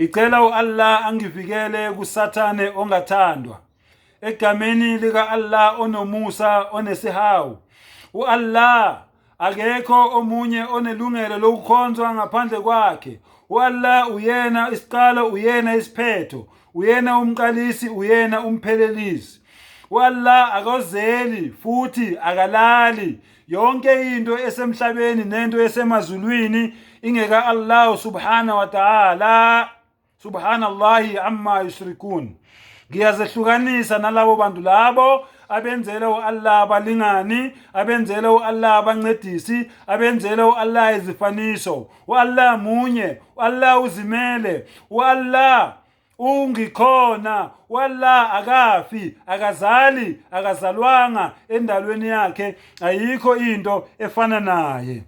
Ngicela uAllah angivikele kusathane ongathandwa. Egameni lika Allah onomusa onesihawu. UAllah akekho omunye onelungelo lokukhonzwa ngaphandle kwakhe. UAllah uyena isiqalo, uyena isiphetho, uyena umqalisi, uyena umphelelisi. UAllah akozeli futhi akalali. yonke into esemhlabeni nento esemazulwini ingeka Allah subhana wa ta'ala subhanallahi amma yushrikun ngiyazehlukanisa nalabo bantu labo abenzela u-allah abalingani abenzela u-allah abancedisi abenzela u-allah izifaniso u-allah munye u-allah uzimele u-allah ungikhona wallah akafi akazali akazalwanga endalweni yakhe ayikho into efana naye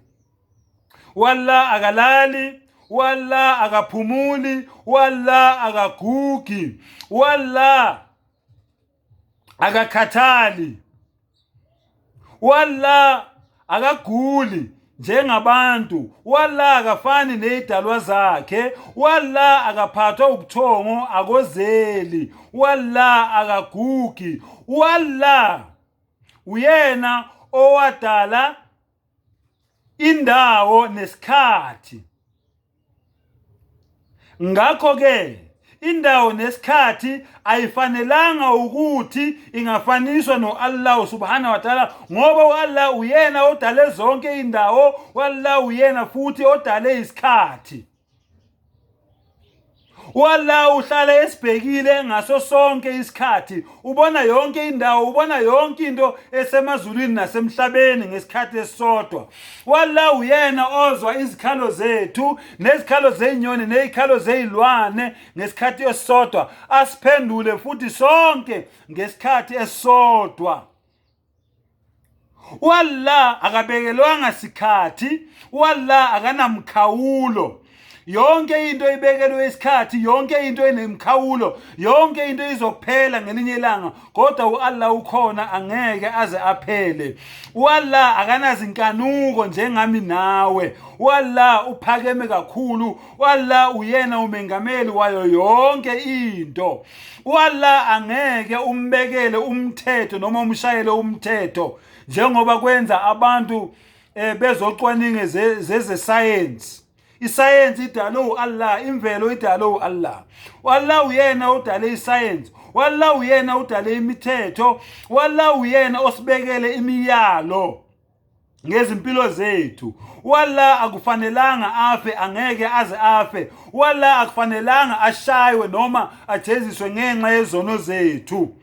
wallah akalali wallah akaphumuli wallah akagugi wallah akakhathali walla akaguli njengabantu walla akafani nezidalwa zakhe walla akaphathwa ubuthongo akozeli walla akagugi walla uyena owadala indawo nesikhathi ngakho ke indawo nesikhathi ayifanelanga ukuthi ingafaniswa no-Allah subhanahu wa ta'ala ngoba u-Allah uyena odale zonke indawo u-Allah uyena futhi odale isikhathi Wallah uhlala esibhekile ngaso sonke isikhathi ubona yonke indawo ubona yonke into esemazulwini nasemhlabeni ngesikhathi esisodwa wallah uyena ozwa izikhalo zethu nezikhalo zezinyoni nezikhalo zezilwane ngesikhathi esisodwa asiphendule futhi sonke ngesikhathi esisodwa wallah akabekelwanga sikhathi wallah akanamkhawulo yonke into ibekelwe isikhathi yonke into enemkhawulo yonke into izophela ngelinye ilanga kodwa uAllah ukhona angeke aze aphele uAllah akanazinkanuko njengami nawe uAllah uphakeme kakhulu uAllah uyena umengameli wayo yonke into uAllah angeke umbekele umthetho noma umshayele umthetho njengoba kwenza abantu eh, bezocwaninge zezesayensi isayensi idalwe uAllah imvelo idalwe uAllah uAllah uyena odale isayensi uAllah uyena udale imithetho uAllah uyena osibekele imiyalo ngezimpilo zethu walla akufanelanga afe angeke aze afe walla akufanelanga ashaywe noma ajeziswe ngenxa yezono zethu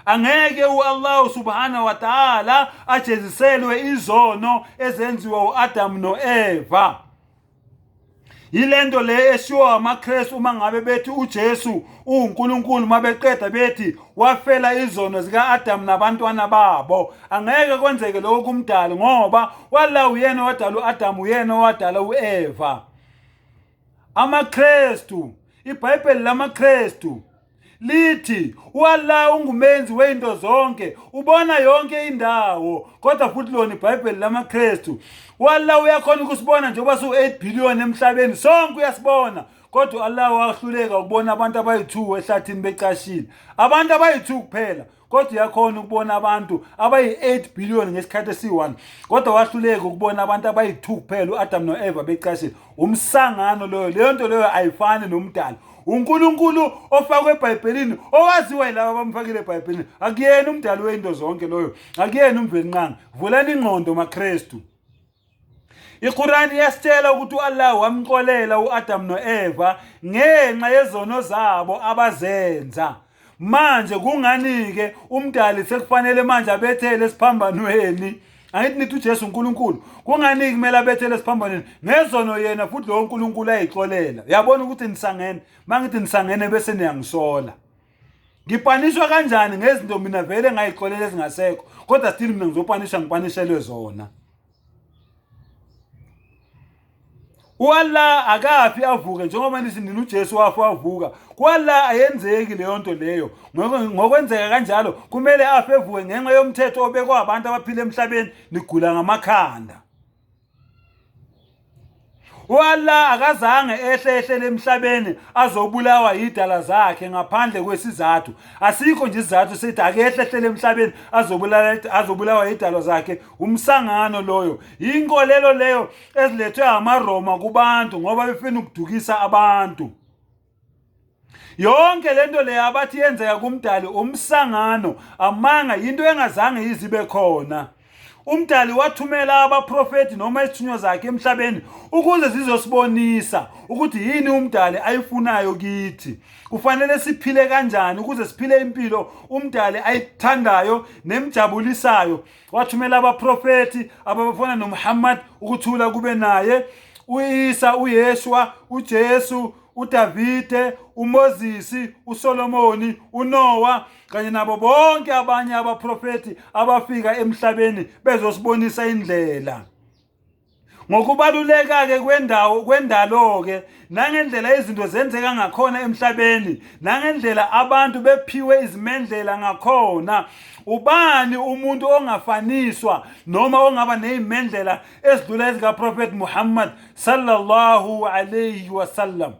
angeke uAllah subhanahu wa ta'ala ajeziselwe izono ezenziwa uAdam noEva yilento le eshiwo amaKristu uma ngabe bethi uJesu uNkulunkulu mabeqeda bethi wafela izono zikaAdam nabantwana babo angeke kwenzeke lokho kumdali ngoba wala uyena wadala uAdam uyena wadala uEva amaKristu iBhayibheli lamaKristu lithi uAllah ungumenzi wezinto zonke ubona yonke indawo kodwa futhi lona iBhayibheli lamaKristu uAllah uyakhona ukusibona njengoba siwu-8 billion emhlabeni sonke uyasibona kodwa uAllah wahluleka ukubona abantu abayi-2 ehlathini becashile abantu abayi-2 kuphela kodwa uyakhona ukubona abantu abayi-8 billion ngesikhathi esiyi-1 kodwa wahluleka ukubona abantu abayi-2 kuphela u-adamu no-eva becashile umsangano loyo leyo nto leyo ayifani nomdala unkulunkulu ofakwe ebhayibhelini owaziwa yilaba abamfakile ebhayibhelini akuyena umdali weyinto zonke loyo akuyena umvelinqanga vulani ingqondo makrestu IQur'an iyasitshela ukuthi uAllah wamxolela uAdam noEva ngenxa yezono zabo abazenza. Manje kungani ke umdali sekufanele manje abethele esiphambanweni? Angithi nithi uJesu uNkulunkulu. Kungani kumele abethele esiphambanweni? Ngezono yena futhi lowo uNkulunkulu ayixolela. Uyabona ukuthi nisangene. Mangithi nisangene bese niyangisola. ngipaniswa kanjani ngezinto mina vele ngayixolela ezingasekho kodwa still mina ngizopanisha ngipanishelwe zona uAllah akafi avuke njengoba nithi nina uJesu wafa wavuka kuAllah ayenzeki leyo nto leyo ngokwenzeka kanjalo kumele afe evuke ngenxa yomthetho obekwa abantu abaphila emhlabeni nigula ngamakhanda Wallah akazange ehle ehlele emhlabeni azobulawa yidala zakhe ngaphandle kwesizathu asikho nje isizathu sethi akehle ehlele emhlabeni azobulala azobulawa yidalo zakhe umsangano loyo yinkolelo leyo ezilethwe amaRoma kubantu ngoba befuna ukudukisa abantu yonke lento le abathi yenzeka kumdali umsangano amanga yinto engazange yizibe khona umdali wathumela abaprofethi noma izithunywa zakhe emhlabeni ukuze zizosibonisa ukuthi yini umdali ayifunayo kithi kufanele siphile kanjani ukuze siphile impilo umdali ayithandayo nemjabulisayo wathumela abaprofethi ababafana noMuhammad ukuthula kube naye uIsa uYeshua uJesu uDavide uMoses uSolomoni uNoah kanye nabo bonke abanye abaprofethi abafika emhlabeni bezosibonisa indlela Ngokubaluleka-ke kwendawo kwendalo-ke nangendlela izinto zenzeka ngakhona emhlabeni nangendlela abantu bephiwe izimendlela ngakhona ubani umuntu ongafaniswa noma ongaba nezimendlela esidlula ezikaprofethi Muhammad sallallahu alayhi wasallam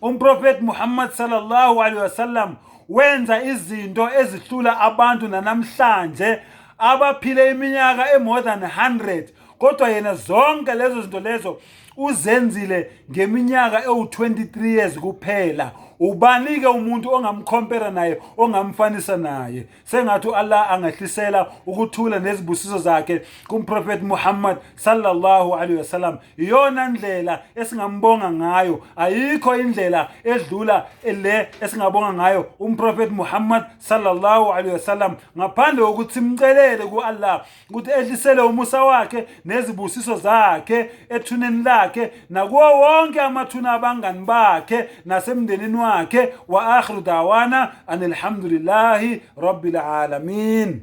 umprofethi Muhammad sallallahu alayhi wasallam wenza izinto ezihlula abantu nanamhlanje abaphile iminyaka e-more than 100 kodwa yena zonke lezo zinto lezo uzenzile ngeminyaka ewu-23 years kuphela ubani-ke umuntu ongamkhompera naye ongamfanisa naye sengathi u-allah angehlisela ukuthula nezibusiso zakhe kumprofethi muhammad sallallahu alaihi wasallam iyona ndlela esingambonga ngayo ayikho indlela edlula le esingabonga ngayo umprofethi muhammad sallallahu alaihi wasallam ngaphandle kokuthi simcelele ku-allah ukuthi edlisele umusa wakhe nezibusiso zakhe ethuneni lakhe nakuwo wonke amathuna abangani bakhe nasemndenini wakhe wa akhiru dawana anilhamdulillahi rabbil alamin